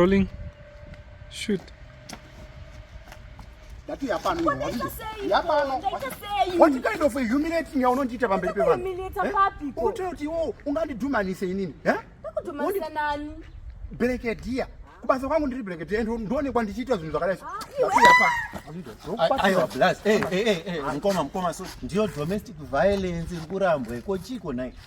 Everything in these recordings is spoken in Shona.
Rolling. Shoot. Ndati yapano iwe wazviti. Yapano. What kind of a humiliating yaunondiita pamberi pevanhu? Humiliate eh? papi? Unotaura kuti iwo ungandidhumanise inini, eh? Ndakudhumanisa nani? Brigadier. Kubasa kwangu ndiri brigadier and ndoonekwa ndichiita zvinhu zvakadai. Ah, Aiwa blast. Eh eh eh, eh mkoma mkoma so ndiyo domestic violence iri kurambwa iko chiko naye.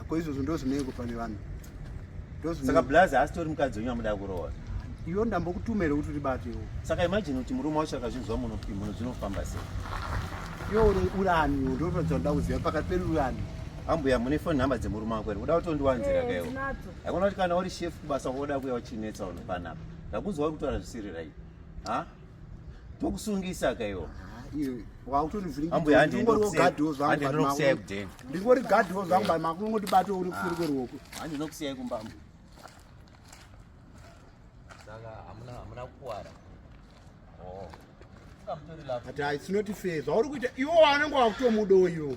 Ako izvozvo ndozvinei kufa nevanhu. Ndozvinei. Saka Blaz asitori mukadzi wenyu amuda kuroora. Iyo ndambokutumira kuti ribatewo. Saka imagine kuti murume wacho akazvinzwa muno kuti muno zvinofamba sei. Iyo uri urani ndotodzwa nda kuziva pakati pedu urani. Ambuya mune phone number dzemurume wako ere? Uda kutondiwanzira eh, kaiwo. Hakuona kuti kana uri chef kubasa woda kuya uchinetsa unofanapa. Ndakuzwa uri kutaura zvisiri right. Ha? tokusungisa ka iwo ndingori gadhi wo zvangu makungotibato uri kusiri kweruoko handinokusiyai kumbambo saka hamuna kukwara oh. ati haisinoti fe zvauri kuita iwo wanenge wakutomudoyo